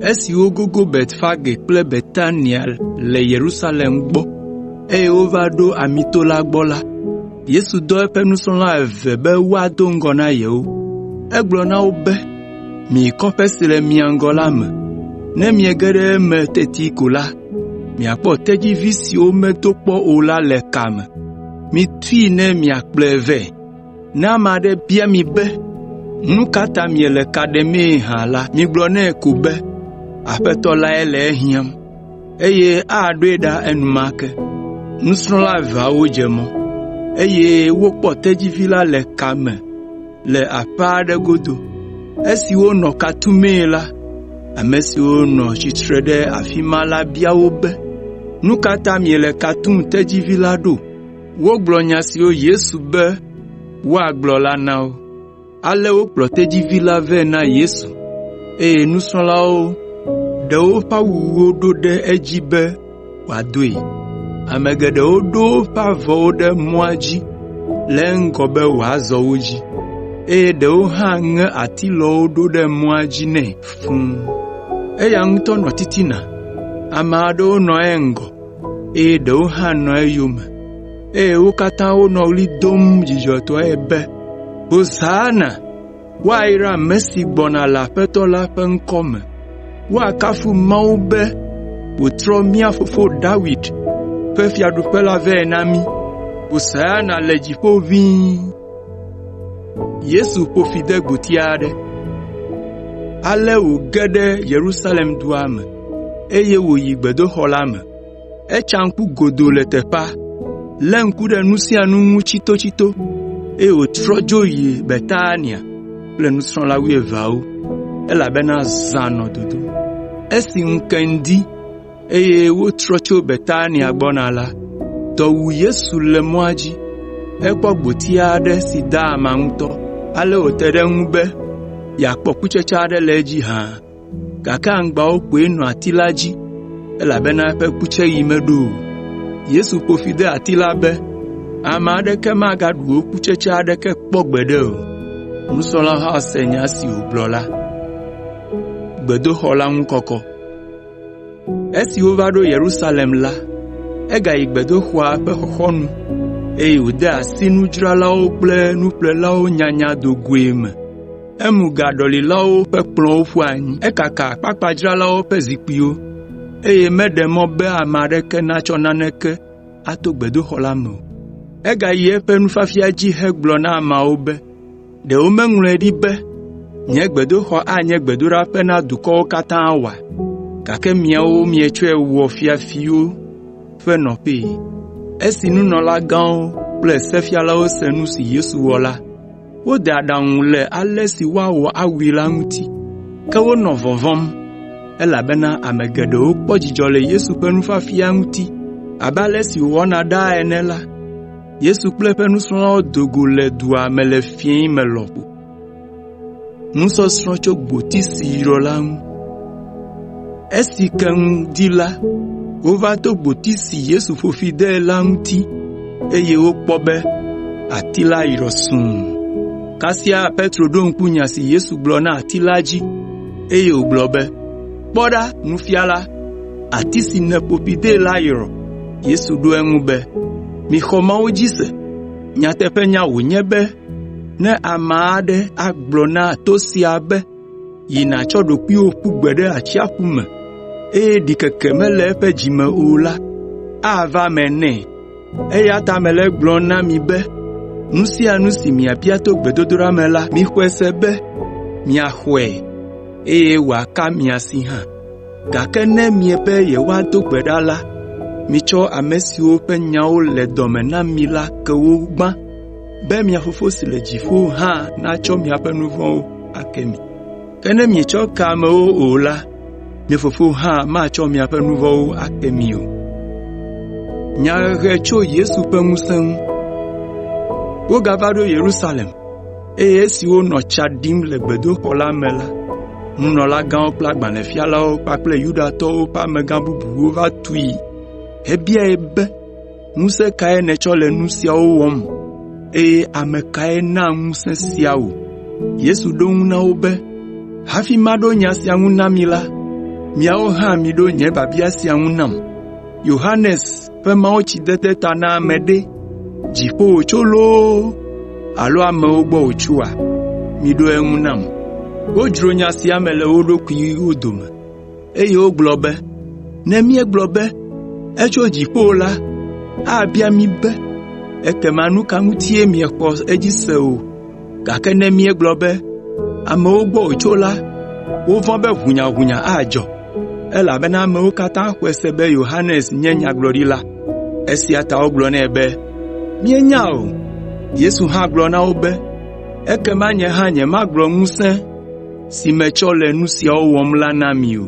Esi wogogo Betfage kple Betania le Yerusalem gbɔ, eye wova ɖo Amito la gbɔ la, Yesu dɔ eƒe nusrɔ̃la eve be woado ŋgɔ na yewo. Egblɔ na wo be, “Miyi kɔƒe si le mia ŋgɔ la me. Ne miege ɖe eme teti ko la, Miakpɔ tedzivi siwo medo kpɔ o la le ka me. Mitui ne miakplɔe vɛ. Ne ame aɖe bia mi be, ‘Nu ka ta miele ka ɖemee hã?’ la, migblɔ nɛ ko be, ‘Aƒetɔ lae le ehiãm,’ eye aɖoe ɖa enumake.” Nusrɔ̃la eveawo dze mɔ, eye wokpɔ tedzivi la le ka me. le aƒe aɖe godo. Esi wonɔ ka tumee la, ame siwo nɔ tsitre ɖe afi ma la bia wo be, “Nu ka ta miele ka tum tedzivi la ɖo?” Wogblɔ nya siwo Yesu be woagblɔ la na wo. Ale wokplɔ tedzivi la vɛ na Yesu, eye nusrɔ̃lawo ɖe woƒe awuwo ɖo ɖe edzi be, wòadoe. Ame geɖewo ɖo woƒe avɔwo ɖe mɔa dzi le eŋgɔ be wòazɔ wo dzi, eye ɖewo hã ŋe atilɔwo ɖo ɖe mɔa dzi nɛ fũ. Eya ŋutɔ nɔ titina. Ame aɖewo nɔ eŋgɔ, eye ɖewo hã nɔ eyome, eye wo katã wonɔ ɣli dom dzidzɔtɔe be, “Hosana!” “Woayra ame si gbɔna le Aƒetɔ la ƒe ŋkɔ me.” “Woakafu Mawu be wòtrɔ mía fofo Dawid ƒe fiaɖuƒe la vɛ na mí.” “Hosana le dziƒo ʋĩi.” Ale wòge ɖe Yerusalem dua me, eye wòyi gbedoxɔ la me. Etsa ŋku godoo le teƒea, lé ŋku ɖe nu sia nu ŋu tsitotsito, eye wòtrɔ dzo yi Betania kple nusrɔ̃la wuieveawo, elabena zã nɔ dodom. Esi ŋu ke ŋdi, eye wotrɔ tso Betania gbɔna la, dɔ wu Yesu le mɔa dzi. Ekpɔ gboti aɖe si da ama ŋutɔ, ale wòte ɖe eŋu be yeakpɔ kutsetse aɖe le edzi hã. gake aŋgbawo koe nɔ ati la dzi, elabena eƒe kutseɣi meɖo o. Yesu ƒo fi de ati la be, “Ame aɖeke magaɖu wò kutsetse aɖeke kpɔ gbeɖe o.” Nusrɔ̃la la se nya si wògblɔ la. Esi wova ɖo Yerusalem la, egayi gbedoxɔa ƒe xɔxɔnu, eye wòde asi nudzralawo kple nuƒlelawo nyanya do goe me. Emu gaɖɔlilawo ƒe kplɔ̃wo ƒu anyi, ekaka akpakpadzralawo ƒe zikpuiwo, eye meɖe mɔ be ame aɖeke natsɔ naneke ato gbedoxɔ la me o. Egayi eƒe nufiafia dzi hegblɔ na ameawo be, “Ɖe womeŋlɔe ɖi be, ‘Nye gbedoxɔ anye gbedoɖaƒe na dukɔwo katã’ oa? Gake miawo mietsɔe wɔ ‘fiafiwo ƒe nɔƒee.’ ” Esi nunɔlagãwo kple sefialawo se nu si Yesu wɔ la, Wode aɖaŋu le ale si woawɔ awui la ŋuti, ke wonɔ vɔvɔ̃m, elabena ame geɖewo kpɔ dzidzɔ le Yesu ƒe nufiafia ŋuti. Abe ale si wòwɔna ɖaa ene la, Yesu kple eƒe nusrɔ̃lawo do go le dua me le fiẽ me lɔƒo. Esi ke ŋu di la, wova to gboti si Yesu ƒo fi de la ŋuti, eye wokpɔ be ati la yrɔ sũu. Kasia Petro ɖo ŋku nya si Yesu gblɔ na ati la dzi, eye wògblɔ be, “Kpɔ ɖa, Nufiala, ati si nèƒo fi de la yrɔ!” Yesu ɖo eŋu be, “Mixɔ Mawu dzi se. Nyateƒenya wònye be ne ame aɖe agblɔ na to sia be, yi nàtsɔ ɖokuiwò ƒu gbe ɖe atsiaƒu me, eye ɖikeke mele eƒe dzi me o la, ava eme nɛ. Eya ta mele egblɔm na mi be nu sia nu si miabia to gbedodoɖa me la, mixɔe se be miaxɔe, eye wòaka mia si hã. Gake ne miebe yewoado gbe ɖa la, mitsɔ ame siwo ƒe nyawo le dɔ me na mi la ke wo gbã. be mia Fofo si le dziƒo hã natsɔ miaƒe nu vɔ̃wo ake mi. Ke ne mietsɔ ke amewo o la, mia Fofo hã matsɔ miaƒe nu vɔ̃wo ake mi o.” Wogava ɖo Yerusalem, eye esi wonɔ tsa ɖim le gbedoxɔ la me la, nunɔlagãwo kple agbalẽfialawo kpakple Yudatɔwo ƒe amegã bubuwo va tui hebiae be, “Ŋusẽ kae nètsɔ le nu siawo wɔm, eye ame kae na ŋusẽ sia wò?” Yesu ɖo eŋu na wo be, “Hafi maɖo nya sia ŋu na mi la, miawo hã miɖo nye biabia sia ŋu nam. Yohanes ƒe mawutsidede ta na ame ɖe, dziƒo wòtso loo alo amewo gbɔ wòtsoa? Miɖo eŋu nam.” Wodzro nya sia me le wo ɖokuiwo dome. Eye wogblɔ be, “Ne míegblɔ be, ‘Etso dziƒo’ la, abia mí be, ‘Ekema nu ka ŋutie miexɔ edzi se o?’ Gake ne míegblɔ be, ‘Amewo gbɔ wòtso’ la, wovɔ̃ be ʋunyaʋunya adzɔ, elabena amewo katã xɔe se be Yohanes nye nyagblɔɖila. Esia ta wogblɔ nɛ be, “Míenya o.” Yesu hã gblɔ na wo be, “Ekema nye hã nyemagblɔ ŋusẽ si metsɔ le nu siawo wɔm la na mi o.”